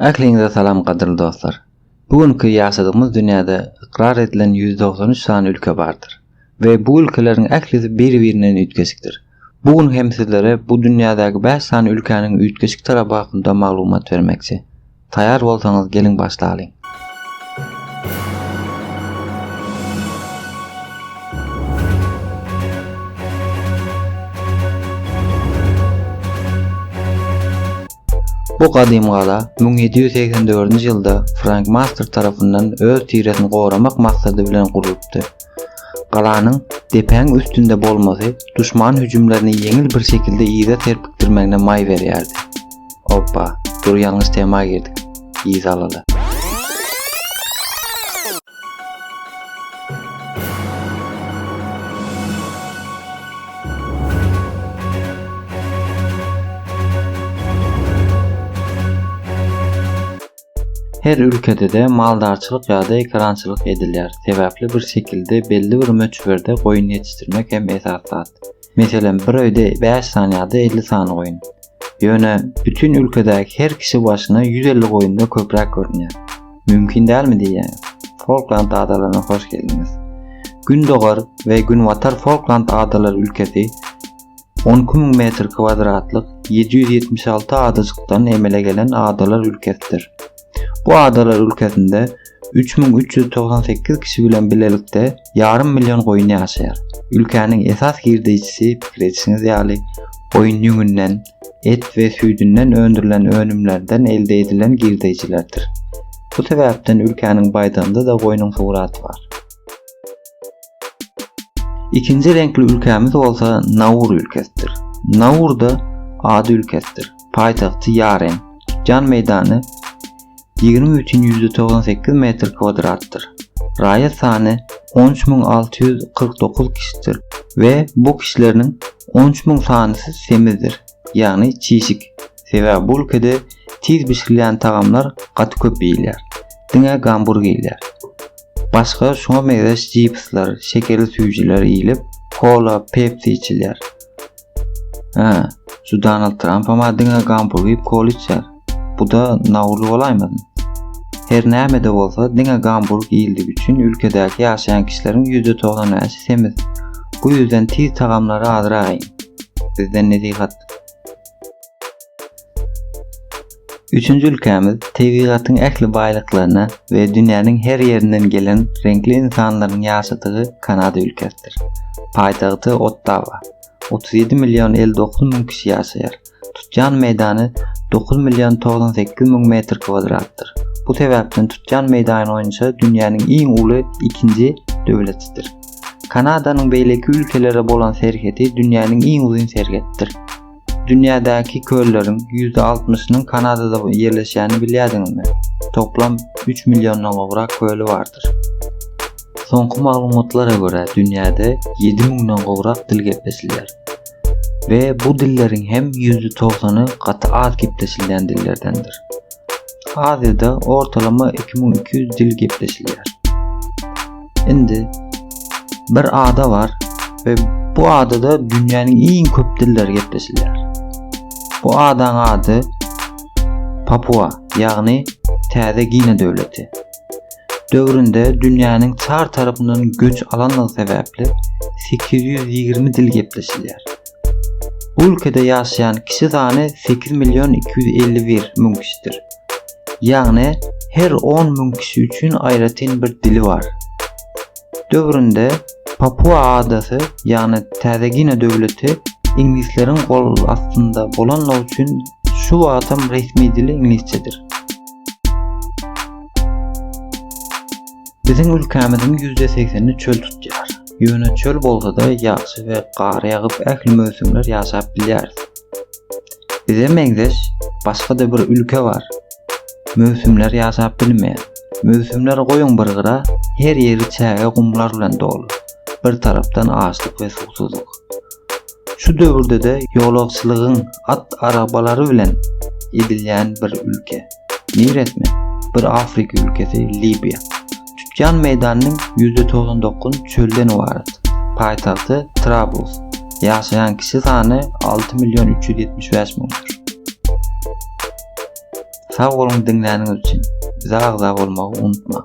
Ähliňize salam gadyrly dostlar. Bu günki ýaşadygymyz dünýäde ykrar edilen ýüz dogsan üç sany ülke bardyr we bu ülkeleriň ählisi biri birinden üýtgeşikdir. Bu gün hem sizlere bu dünýädäki bäş sany ülkäniň üýtgeşik tarapy hakynda maglumat bermekçi. Taýar bolsaňyz geliň başlalyň. Bu gadymy gala müň ýedi ýüz segsen dördünji ýylda Frank Master tarapyndan öz tiresini goramak maksady bilen gurlupdy. Galanyň depäň üstünde bolmasy duşman hüjümlerini ýeňil bir şekilde yza serpikdirmegine maý berýärdi. Oppa, dur ýalňyş tema girdik. Yza alala. Her ülkede-de maldarçylyk ýa-da ekerançylyk edilýär. Sebäpli bir şekilde belli bir möçberde goýun ýetişdirmek hem esas zat. Meselem, bir öýde 5 sany ýa-da 50 sany goýun. Ýöne bütin ülkedäki her kişi başyna 150 goýunda köpräk görünýär. Mümkin dälmi diýýän. Folkland adalaryna hoş geldiňiz. Gündogar we Günbatar Folkland adalary ülkesi 12 müň metr kwadratlyk 776 adajykdan emele gelen adalar ülkesidir. Bu adalar ülkesinde 3398 kişi bilen bilelikde ýarym million goýun ýaşaýar. Ülkäniň esas girdeýjisi pikir edişiňiz ýaly goýun ýüňünden, et we süýdünden öndürilen önümlerden elde edilen girdeýjilerdir. Bu sebäpden ülkäniň baýdagynda-da goýnuň suraty bar. Ikinji reňkli ülkämiz bolsa Naur ülkesidir. Naur-da ady ülkesidir. paýtagty Ýaren. Tutýan meýdany ýigrimi bütin ýüz togsan sekiz metr kwadratdyr. Raýat sany on üç müň alty ýüz kyrk dokuz kişidir we bu kişileriniň on üç müň sanysy semizdir, ýagny çişik. Sebäbi bu ülkede tiz bişirilýän tagamlar gaty köp iýilýär. Diňe gamburg iýilýär. Başga şuňa meňzeş cipsler, şekerli süýjüler iýilip, kola, pepsi içilýär. Hä, şu Donald Trumpam adyňa gampur giyip kol içer. Bu da nawrul bolaýmasyn? Her näme-de bolsa, diňe Gamburg iýildigi üçin ülkedäki ýaşaýan kişileriň ýüzde togsan bäşi semiz. Bu ýüzden tiz tagamlary azrak iýiň. Bizden nesihat. Üçünji ülkämiz tebigatyň ähli baýlyklaryna we dünýäniň her ýerinden gelen reňkli ynsanlaryň ýaşadygy Kanada ülkesidir. Paýtagty Ottawa. 37 million 59 müň kişi ýaşaýar. Tutýan meýdany 9 million 98 müň metr kwadratdyr. Bu sebäpden tutýan meýdany boýunça dünýäniň iň uly ikinji döwletidir. Kanadanyň beýleki ülkelere bolan serhedi dünýäniň iň uzyn serhetdir. Dünýädäki kölleriň ýüzde altmyşynyň Kanadada ýerleşýänini bilýärdiňizmi? Toplam üç milliondan gowrak köli bardyr. Soňky maglumatlara görä, dünýäde ýedi müňden gowrak dil gepleşilýär we bu dilleriň hem ýüzde togsan gaty az gepleşilýän dillerdendir. Aziýada ortalama iki müň iki ýüz dil gepleşilýär. Indi bir ada bar we bu adada dünýäniň iň köp dilleri gepleşilýär. Bu adaň ady Papua, ýagny Täze Gine döwleti. Döwründe dünýäniň çar tarapyndan göç alandygy sebäpli 820 dil gepleşilýär. Bu ülkede ýaşaýan kişi sany 8 million 251 müň kişidir. Ýagny her 10 müň kişi üçin aýratyn bir dili bar. Döwründe Papua adasy, ýagny Täze Gine döwleti iňlisleriň gol astynda bolanlygy üçin şu wagtam resmi dili iňlisçedir. Biziň ülkämiziň ýüzde segseni çöl tutýar. Ýöne çöl bolsada ýagşy we gar ýagyp ähli möwsümler ýaşap bilýäris. Bize meňzeş başga-da bir ülke bar. Möwsümler ýaşap bilmeýär. Möwsümleri goýuň bir gyra, her ýeri çäge gumlar bilen doly. Bir tarapdan açlyk we suwsuzlyk. Şu döwürde-de ýolagçylygyň at arabalary bilen edilýän bir ülke. Niresmi? Bir Afrika ülkesi Libiýa. Tutýan meýdanynyň ýüzde togsan dokuz çölden ybarat. Paýtagty Trablus. Ýaşaýan kişi sany alty million üç ýüz ýetmiş bäş müňdür. Sag boluň diňläniňiz üçin. Bize agza bolmagy unutmaň.